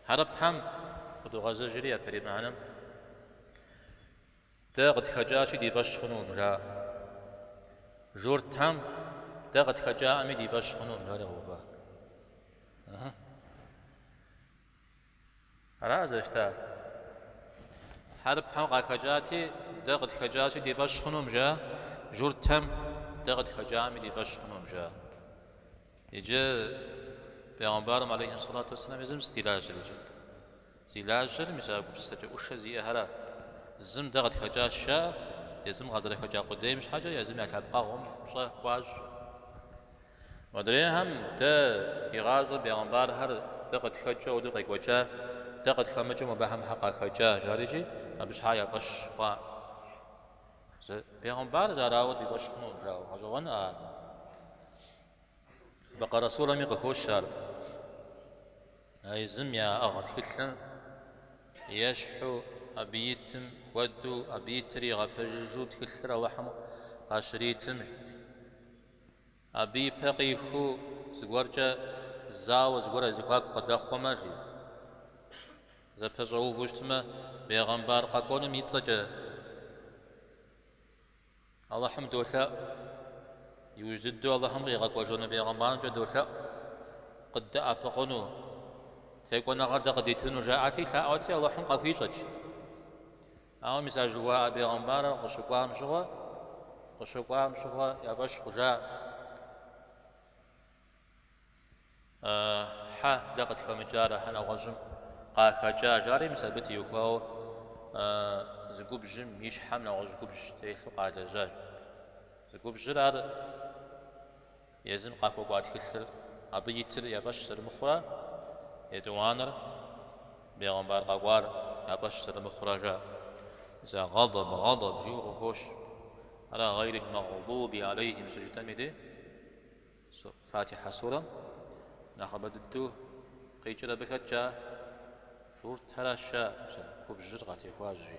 Хьэрыпхэм къыдогъэзэжри япэрей мыхьэнэм, Дэ къытхэкӏащи, ди фӏэщ хъунукъым, жаӏэ. Журтхэм, Дэ къытхэкӏаӏыми, ди фӏэщ хъунукъым, жаӏэ Егъовэ. Ара зэрыщыта? Хьэрыпхэм къахэкӏати, Дэ къытхэкӏащи, ди фӏэщ хъунукъым, жаӏэ. Журт тхьэм, Дэ къытхэкӏаӏэми, ди фӏэщ хъунукъым, жаӏэ. Иджы Пегъымбарым алейхи сэлату уэсэлам езым сыт и лажьэр иджы? Зи лажьэр мис а гупсысэкӏэ ӏушэ зиӏэхэрат. Зым дэ къытхэкӏащ жари, езым къазэрыхэкӏа къудейм щхьэкӏэ езым я лъэпкъэгъум пщӏэ хуащӏу. Модрейхэм дэ игъащӏэм Пегъымбархэр дэ къытхэкӏыурэ къекӏуэкӏа, дэ къытхэмыкӏыу абыхэм хьэ къахэкӏа жари иджы абы щхьа я фӏэщ хъуа? Пегъымбар жьарауэ ди фӏэщ хъуну, жаӏэу гъэщӏэгъуэн ар? Бэкъэрэ сурэми къыхощ ар. А езым яӏыгъа тхылъым ещхьу абы итым хуэдэу, абы итыр игъэпэжыжу тхылъыр Алыхьым къащыритым, абы ипэ къихуэу зыгуэркӏэ зауэ, зыгуэр я зэхуаку къыдэхъуэмэ, жи. Зэпэщӏэуву щытмэ, бегъымбар къэкӏуэнум и цӏэкӏэ Алыхьым долъэӏу. Иужь дыдэу Алыхьым къигъэкӏуэжыну бегъымбарымкӏэ долъэӏу, къыддэӏэпыкъуну, текӏуэныгъэр дэ къыдитыну, жаӏэти, лъаӏуэти, Алыхьым къахуищӏэт. Ауэ мис а жыхуаӏэ бегъымбарыр къыщыкӏуам щыгъуэ, къыщыкӏуам щыгъуэ я фӏэщ хъужаӏым. Хьэ дэ къытхэмыкӏарэ хьэ нэгъуэщӏым къахэкӏа жари мис абы теухуауэ зы губжьым и щхьэм нэгъуэщӏ губжь телъу къалэжьащ. Зы губжьыр ар езым къахуэкӏуа тхылъыр, абы итыр я фӏэщ зэрымыхъурэ, етӏуанэр бегъымбар къэкӏуар я фӏэщ зэрымыхъурэ жаӏэ. Мис а гъэдэб, гъэдэб жиӏэу къыхощ. Ара гъэйрил магъдуби алейхим щыжытӏэми де? Фатихьэ сурэм нэхъыбэ дыдэу къикӏыр абы хэткӏа журтхэращ, жаӏэ, губжьыр къатехуащ, жи.